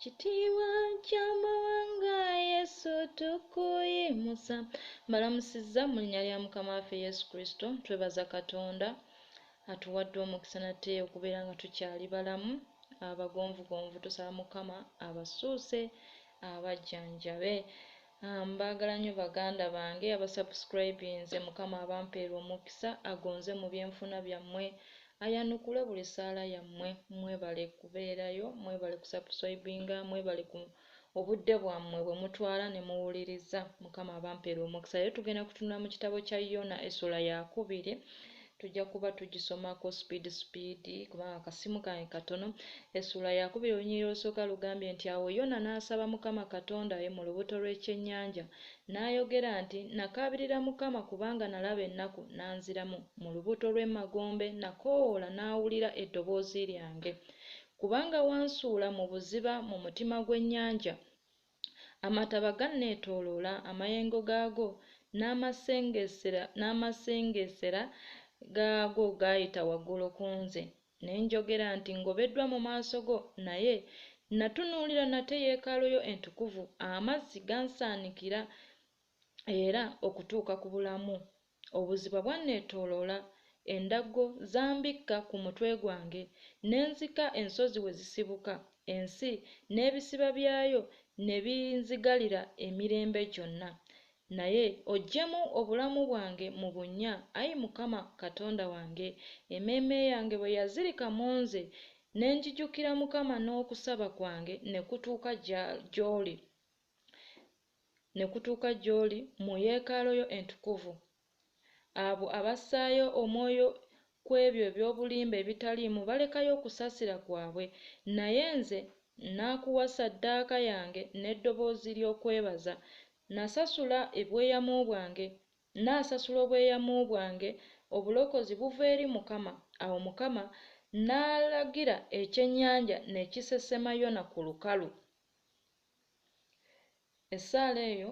Kitiibwa ky'amawanga Yesu tukuyimusa. Mbalamusizza mu linnya lya Mukama waffe Yesu Kristo. Twebaza Katonda atuwadde omukisa nate okubeera nga tukyali balamu abagonvugonvu. Tusaba Mukama abasuuse abajjanjabe. Aah mbagala nyo baganda bange aba subscribinze mukama abampeere omukisa agonze mubyenfuna byamwe ayanukule buli saala yamwe mwebale kubeerayo mwebale ku subsribinga mwebale ku obudde bwamwe bwemutwala nemuwuliriza mukama abampeere omukisa leero tugenda kutunula mukitabo kya Yona essuula yakubiri Tujja kuba tugisomako speed speed kubanga akasimu kange katono. Essuula Yakubiri olunyiriri olusooka lugambye nti awo Yona n'asaba Mukama Katonda we mu lubuto lw'ekyennyanja, n'ayogera nti, Nakaabirira Mukama kubanga nalaba ennaku, n'anziramu, mu lubuto lw'emagombe nakoowoola n'awulira eddoboozi lyange. Kubanga wansuula mu buziba mu mutima gw'ennyanja. Amataba ganneetooloola, amayengo gaago n'amasengeesera gaago gaayita waggulu ku nze. Ne njogera nti, Ngobeddwa mu maaso go, naye nnatunuulira nate yeekaalu yo entukuvu. Amazzi gansaanikira era okutuuka ku bulamu Obuziba bwanneetooloola, endaggo zambikka ku mutwe gwange, ne nzika ensozi we zisibuka, ensi n'ebisiba byayo ne binzigalira emirembe gyonna. Naye oggyemu obulamu bwange mu bunnya, Ayi Mukama Katonda wange. Emmeeme yange bwe yazirika mu nze, ne njijukira Mukama n'okusaba kwange ne kutuuka gy'oli. ne kutuuka gy'oli mu yeekaalu yo entukuvu. Abo abassaayo omwoyo ku ebyo eby'obulimba ebitaliimu balekayo okusaasira kwabwe, naye nze nakuwa saddaaka yange n'eddoboozi ly'okwebaza, nasasula ebweyamo bwange, naasasula obweyamo bwange, obulokozi buva eri Mukama, awo Mukama n'alagira ekyennyanja ne kisesema Yona ku lukalu. Essaala eyo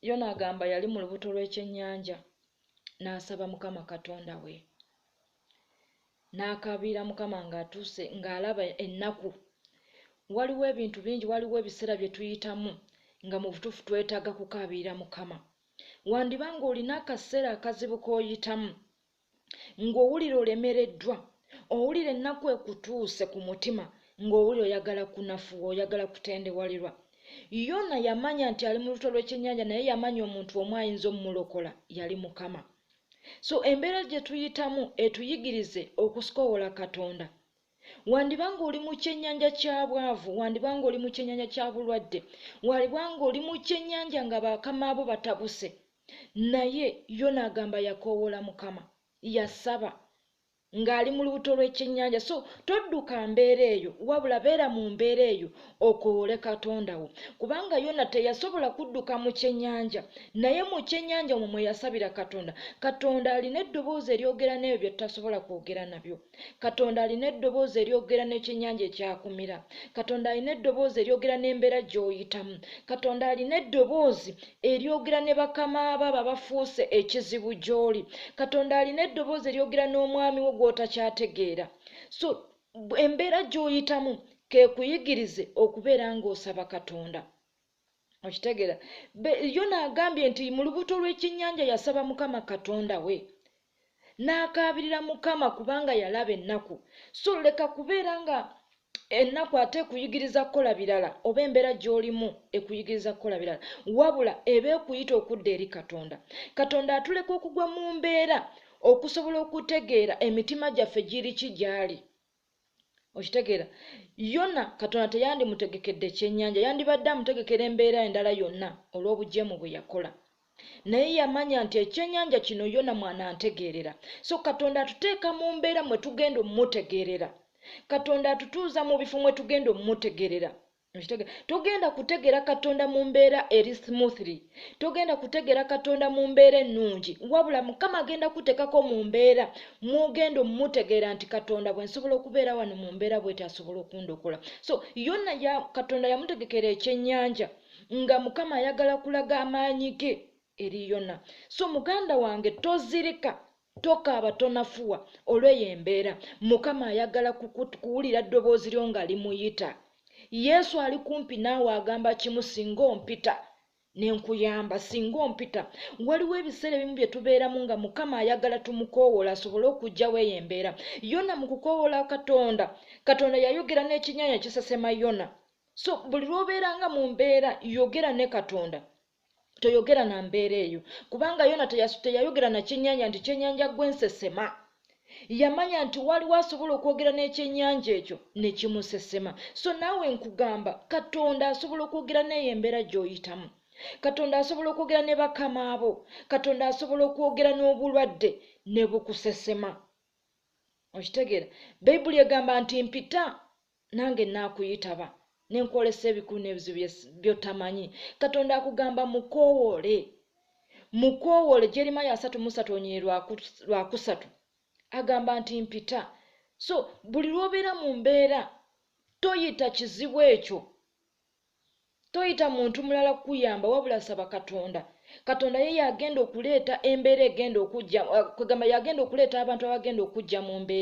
Yona agamba yali mu lubuto lw'ekyennyanja n'asaba Mukama Katonda we n'akaabira Mukama ng'atuuse ng'alaba ennaku. Waliwo ebintu bingi, waliwo ebiseera bye tuyitamu nga mu butuufu twetaaga kukaabira Mukama. Wandiba ng'olina akaseera akazibu k'oyitamu ng'owulira olemereddwa owulira ennaku ekutuuse ku mutima ng'owulira oyagala kunafuwa oyagala kutendewalirwa yona yamanya nti ali mu luto lw'ekyennyanja naye yamanya omuntu omu ayinza omumulokola yali mukama so embeera gye tuyitamu etuyigirize okusikowola katonda wandiba ng'oli mu kyennyanja kya bwavu wandiba ng'oli mu kyennyanja kya bulwadde waliba ng'oli mu kyennyanja nga bakamaabo batabuse naye yo naagamba yakoowoola mukama yasaba ng'ali mu lubuto lw'ekyennyanja so todduka mbeera eyo wabula beera mu mbeera eyo okowoole katonda wo kubanga yona teyasobola kudduka mu kyennyanja naye mu kyennyanja omwo mwe yasabira katonda katonda alina eddoboozi eryogera n'ebyo bye tutasobola kwogera nabyo Katonda alina eddoboozi eryogera n'ekyennyanja ekyakumira. Katonda alina eddoboozi eryogera n'embeera gy'oyitamu. Katonda alina eddoboozi eryogera ne bakama bo abo abafuuse ekizibu gy'oli. Katonda alina eddoboozi eryogera n'omwami wo gw'otakyategeera. So embeera gy'oyitamu keekuyigirize okubeera ng'osaba Katonda. okitegera yona agambye nti mu lubuto lw'ekyennyanja yasaba mukama katonda we n'akaabirira mukama kubanga yalaba ennaku so leka kubeera nga ennaku ate ekuyigiriza kukola birala oba embeera gy'olimu ekuyigiriza kukola birala wabula eba ekuyita okudda eri katonda katonda atuleka okugwa mu mbeera okusobola okutegeera emitima gyaffe giriki gy'ali okitegeera yona katonda teyandimutegekedde kyenyanja yandibadde amutegekera embeera endala yonna olw'obujeemu bwe yakola naye yamanya nti ekyenyanja kino yona mwanantegeerera so katonda atuteeka mu mbeera mwe tugenda omumutegeerera katonda atutuuza mu bifo mwe tugenda omumutegeerera Okitegeera? Togenda kutegeera Katonda mu mbeera eri smoothly. Togenda kutegeera Katonda mu mbeera ennungi. Wabula Mukama agenda kuteekako mu mbeera mw'ogenda omutegeera nti Katonda bwe nsobola okubeera wano mu mbeera bw'eti asobola okundokola. So Yona ya, Katonda yamutegekera ekyennyanja nga Mukama ayagala kulaga amaanyi ge eri Yona. So muganda wange tozirika Tokaaba tonafuwa olw'eyo embeera. Mukama ayagala kuwulira ddoboozi lyo nga limuyita. Yesu ali kumpi naawe agamba kimu singa ompita ne nkuyamba singa ompita waliwo ebiseera ebimu bye tubeeramu nga mukama ayagala tumukoowoola asobole okugjawo eyo embeera yona mu kukoowoola katonda katonda yayogera n'ekinyanya kisesema yona so buli lw'obeera nga mu mbeera yogera ne katonda toyogera na mbeera eyo kubanga yona teyayogera na kyenyanja nti kyenyanja gwensesema yamanya nti waliwo asobola okwogera n'ekyenyanja ekyo nekimusesema so naawe nkugamba katonda asobola okwogera neeyo embeera gy'oyitamu katonda asobola okwogera ne bakama abo katonda asobola okwogera n'obulwadde ne bukusesema okitegeera bayibuli egamba nti mpita Nange nnaakuyitaba ne nkwolesa ebikulu n'ebizibu by'otamanyi. Katonda akugamba mukoowoole. Mukoowoole. Jeremiya asatu mu satu onyeye lwa kusatu agamba nti mpita. So buli lw'obeera mu mbeera toyita kizibu ekyo toyita muntu mulala kukuyamba wabula saba katonda katonda ye yagenda okuleeta embeera egenda okujja eh, kwegamba yagenda okuleeta abantu abagenda okujja mu mbeera